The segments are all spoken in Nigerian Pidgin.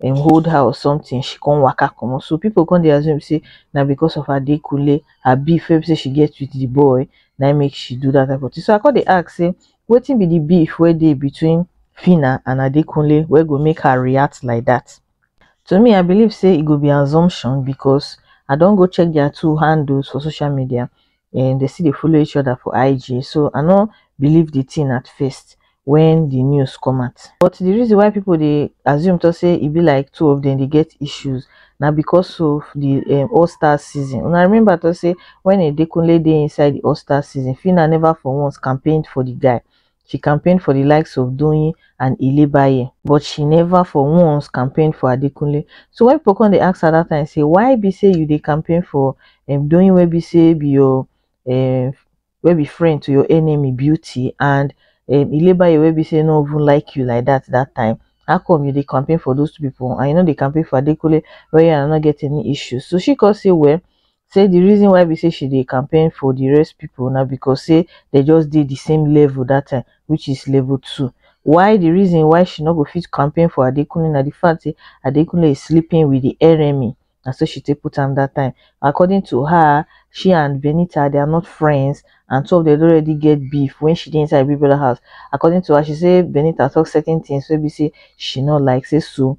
dem hold her or something she come waka comot so people come dey assume say na because of adekunle her beef wey be say she get with the boy na im make she do that type of thing so i come dey ask say wetin be the beef wey dey between Phyna and adekunle wey go make her react like that to me i believe say e go be assumption because i don go check their two handles for social media um dey still dey follow each other for IG so I no believe the thing at first when the news come out but the reason why people dey assume to say e be like two of them dey get issues na because of the um, All Star season una remember to say when Edekunle dey inside the All Star season Phyna never for once campaigned for the guy she campaign for di likes of Doyin and Ilebaye but she never for once campaign for Adekunle so when people come dey ask her that time say why be say you dey campaign for um, Doyin wey be say be your um, wey be friend to your enemy Beauty and um, Ilebaye wey be say no even like you like that that time how come you dey campaign for those two people and you no dey campaign for Adekunle wey you no get any issues so she come say well say the reason why be say she dey campaign for the rest people now because say they just did the same level that time which is level two why the reason why she not go fit campaign for adekunle now the fact say adekunle is sleeping with the enemy and so she take put him that time according to her she and benita they are not friends and so they already get beef when she did inside people house according to her she say benita talk certain things so be say she not like say so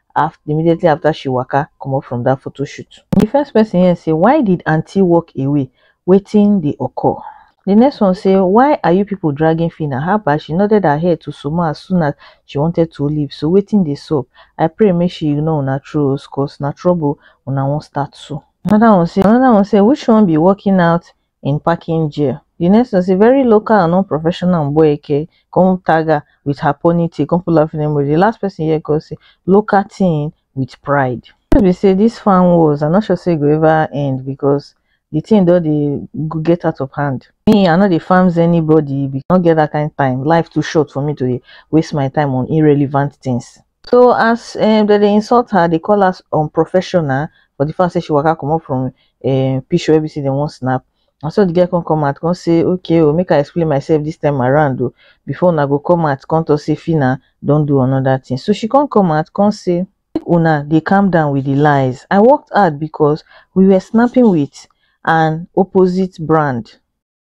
af immediately after she waka comot from that photo shoot. The first person here say why did aunty walk away wetin dey occur? The next one say why are you people dragging Phyna haba she nodded her head to Suma as soon as she wanted to leave so wetin dey sup I pray make she ignore una trolls cos na trouble una wan start so. Another one say another one say which one be walking out im packing jail di next tin say very local and unprofessional mboeke come tag her wit her pony tail come put laughing emoji di last pesin hear come say local tin wit pride di truth be say dis fan wars i no sure say e go ever end becos di tin don dey get out of hand. Me i no dey fans anybody becos i no get dat kain time life too short for me to dey waste my time on irrelevant tins. So as um, dem dey insult her, they call us unprofessional for the fact say she waka comot from um, picture wey be say dem wan snap. And so the girl come come out, come say, okay, oh, make I explain myself this time around, oh, before una go come out, come to say Fina don't do another thing. So she come come out, come say, make una they calm down with the lies. I worked hard because we were snapping with an opposite brand.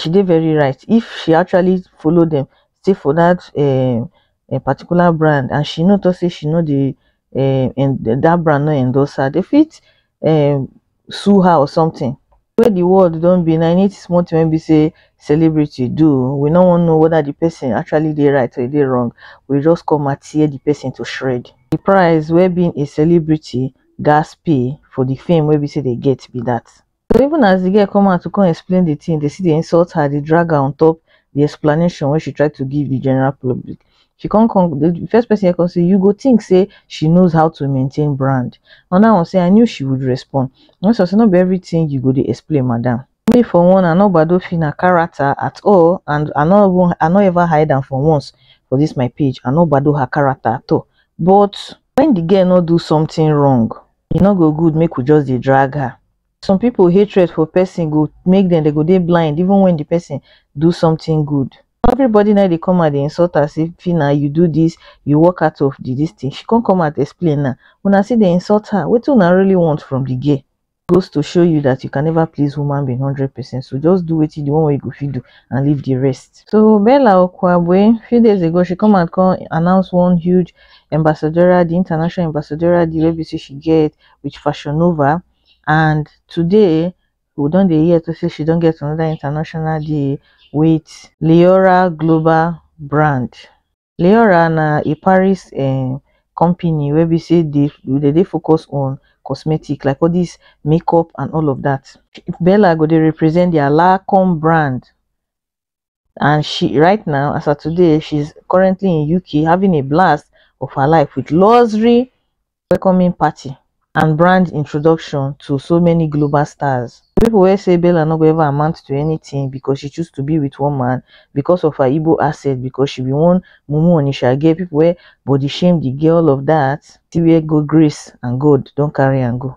she dey very right if she actually follow dem stay for that um um particular brand and she no talk say she no dey um en that brand no endorse her dey fit um sue her or something. Wey the world don be now any small thing wey be say celebrity do we no wan know whether the person actually dey right or e dey wrong we just come out tear the person to shred. The price wey being a celebrity gas pay for the fame wey be say dey get be that. so even as the girl come out to come explain the thing, they see they insult her, they drag her on top the explanation when she tried to give the general public. She come come the first person I can say, you go think say she knows how to maintain brand. And I will say I knew she would respond. And so say not be everything you go to explain, madam. Me for one, I know Bado Fina character at all, and I not I not ever hide them for once for this my page. I know Bado her character at all. But when the girl not do something wrong, e no go good make we just dey drag her some people hatred for person go make them they go dey blind even when the person do something good everybody now they come and they insult her say Fina you do this you walk out of the this thing she can't come out explain now when I see they insult her what do I really want from the gay goes to show you that you can never please woman being 100% so just do what you do one way you go feed do and leave the rest so Bella Okwabwe a few days ago she come and come announce one huge Ambassadorial di international ambassadorial deal wey be sey she get with Fashion Nova and today we don dey hear sey she don get another international deal with Leora Global Brand. Leora na a Paris um company wey be sey dey dem dey focus on cosmetic like all dis makeup and all of dat. Bella go dey represent their Lancome brand and she right now as of today she's currently in uk having a blast of her life with luxury welcoming party and brand introduction to so many global stars people will say bella no go ever amount to anything because she choose to be with one man because of her Igbo asset because she be one mumu onisha girl people where body shame the girl of that till where go grace and god don't carry and go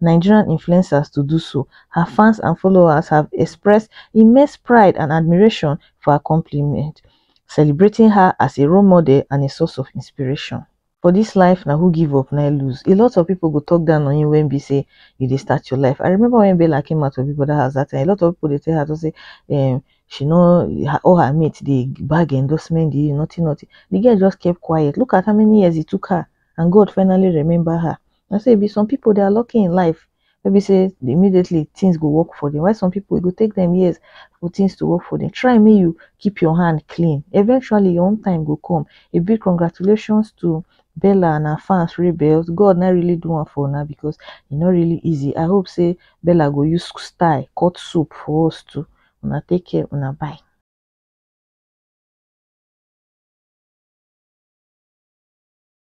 nigerian influencers to do so her fans and followers have expressed immense pride and admiration for accomplishment celebrating her as a role model and a source of inspiration. for this life na who give up na lose a lot of people go talk down on you when be say you dey start your life i remember when bella came out of big brother house that time a lot of people dey tell her to say um, she know her, all her mates dey bag endorsement dey nothing nothing the girl just kept quiet look at how many years it took her and god finally remember her Na so e be some pipu dey are lucky in life wey be sey immediately things go work for dem while some pipu e go take dem years for things to work for dem. Try make you keep your hand clean eventually your own time go come. A big congratulations to Bella and her fans wey be sey God na im really do am for una because e no really easy I hope sey Bella go use style cut soap for us too. Una take care una bye.